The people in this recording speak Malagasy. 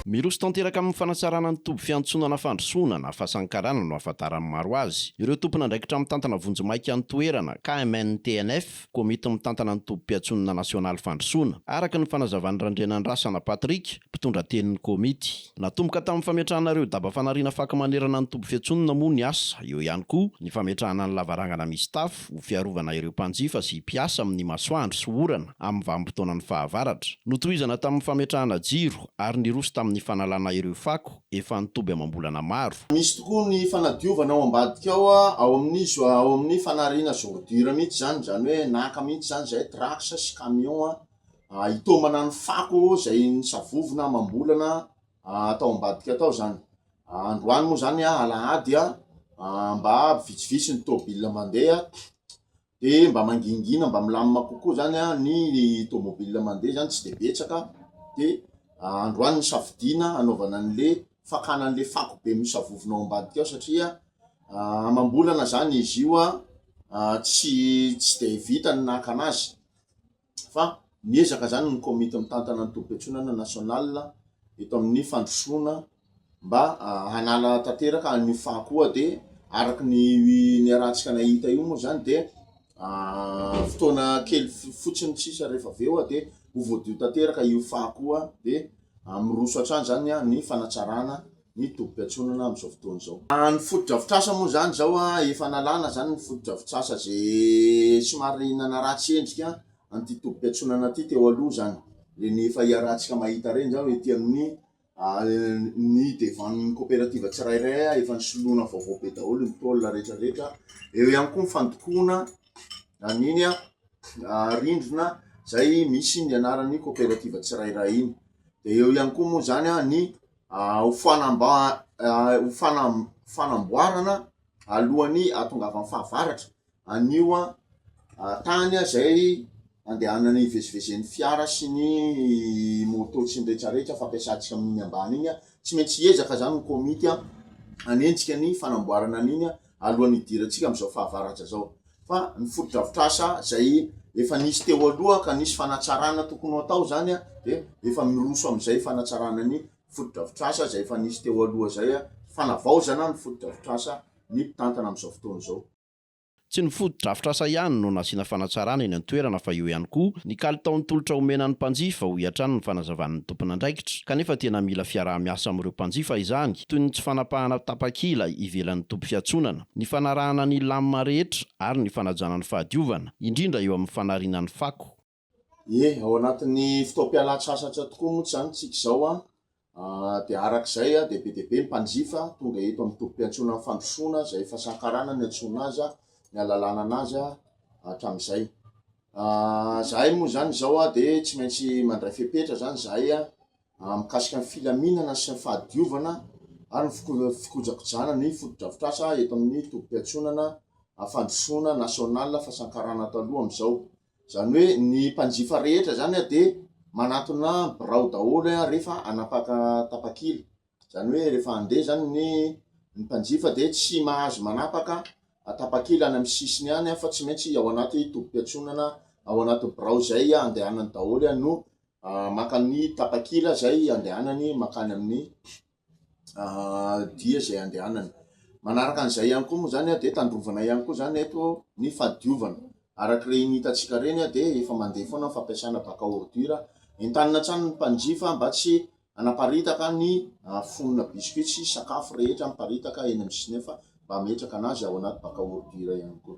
Miroso tanteraka amin'ny fanatsarana ny toby fiantsona na fandrosoana na fasankarana no ahafantaran'ny maro azy ireo tompon'andraikitra mitantana vonjimaika ny toerana, KMNTNF, Komity mitantana ny tobim-piantsonana nasionaly fandrosoana, araka ny fanazavan'i Randrianandrasana Patrick, mpitondra tenin'ny komity. Natomboka tamin'ny fametrahana ireo daba fanariana fako manerana ny toby fiantsonana moa ny asa, eo ihany koa ny fametrahana ny lavarangana misy tafo, App ho fiarovana ireo mpanjifa sy mpiasa amin'ny masoandro sy orana amin'ny vanim-potoanan'ny fahavaratra. Notohizana tamin'ny fametrahana jiro ary niroso tamin'ny fanalana ireo fako efa nitoby amam-bolana maro. Misy tokoa ny fanadiovana ao ambadika ao ao amin'ny ao amin'ny fanariana z ordures mihitsy izany, izany hoe naka mihitsy izany izahay trucks sy camions hitaomana ny fako izay nisavovona amam-bolana atao ambadika atao izany. Androany moa izany alahady mba vitsivitsy ny tômôbila mandeha dia mba mangingina mba milamina kokoa izany ny tômôbila mandeha izany tsy dia betsaka dia androany ny safidiana hanaovana an'ilay fakana an'ilay fako be misavovona ao ambadika ao satria amam-bolana izany izy io tsy tsy dia vita ny nakana azy. fa miezaka izany ny komity mitantana ny tobim-piantsonana national eto amin'ny fandrosoana mba hanala tanteraka an'io fako io dia araka ny niarahantsika nahita io moa izany dia fotoana kely fotsiny tsisa rehefa avy eo dia ho voadio tanteraka io fako io dia miroso hatrany izany ny fanatsarana ny tobim-piantsonana amin'izao fotoana izao. Ny fotodrafitrasa moa izany izao efa nalana izany ny fotodrafitrasa izay somary nanaratsy endrika an'ity tobim-piantsonana ity teo aloha izany, ireny efa hiarantsika mahita ireny izao ety amin'ny ny devan'ny koperativa tsirairay efa nisoloana vaovao be daholo ny tôle retraretra, eo ihany koa ny fandokoana an'iny rindrina izay misy ny anaran'ny koperativa tsirairay iny, dia eo ihany koa moa izany ny. ho fanamboarana alohan'ny hahatongavan'ny fahavaratra an'io tany izay andehanan'ny hivezivezen'ny fiara sy ny moto sy ny rehetrarehetra fampiasantsika amin'iny ambany iny. Tsy maintsy hiezaka izany ny komity hanenjika ny fanamboarana an'iny alohan'ny hidirantsika amin'izao fahavaratra izao. Fa ny fotodrafitrasa izay efa nisy teo aloha ka nisy fanatsarana tokony ho atao izany dia efa miroso amin'izay fanatsarana ny fotodrafitrasa izay efa nisy teo aloha izay, fanavaozana ny fotodrafitrasa ny mpitantana amin'izao fotoana izao. Tsy ny fotodrafitrasa ihany no nasiana fanatsarana eny an-toerana fa eo ihany koa ny kalitaon'ny tolotra omena ny mpanjifa, hoy hatrany ny fanazavan'ny tompon'andraikitra. Kanefa tena mila fiaraha-miasa amin'ireo mpanjifa izany. toy ny tsy fanapahana tapakila ivelan'ny toby fiantsonana, ny fanarahana ny lamina rehetra ary ny fanajana ny fahadiovana, indrindra eo amin'ny fanariana ny fako. Ie, ao anatin'ny fotoam-pialan-tsasatra tokoa moa tsy zany tsika izao an! dia araka izay dia be dia be ny mpanjifa tonga eto amin'ny tobim-piantsonan'ny fandrosoana izay efa sankarana ny antsoina azy an! ny alalana anazy an! hatramin'izay an! zahay moa izany izao an! dia tsy maintsy mandray fepetra izany zahay an! mikasika ny filaminana sy ny fahadiovana ary ny fikojakojana ny fotodrafitrasa eto amin'ny tobim-piantsonana fandrosoana nasionalina fasankarana taloha amin'izao. Izany hoe ny mpanjifa rehetra izany dia manatona birao daholo rehefa hanapaka tapakila. Izany hoe rehefa handeha izany ny ny mpanjifa dia tsy mahazo manapaka tapakila any amin'ny sisiny any fa tsy maintsy ao anaty tobim-piantsonana ao anaty birao izay andehanany daholo no maka amin'ny tapakila izay andehanany mankany amin'ny dia izay andehanany. Manaraka an'izay ihany koa moa izany dia tandrovana ihany koa izany eto ny fahadiovana. Araka ireny hitantsika ireny dia efa mandeha foana ny fampiasana bac à ordures. Entanina hatrany ny mpanjifa mba tsy hanaparitaka ny fonona biscuits sy sakafo rehetra miparitaka eny amin'ny sisiny eny fa mba hametraka an'azy ao anaty bac à ordures ihany koa.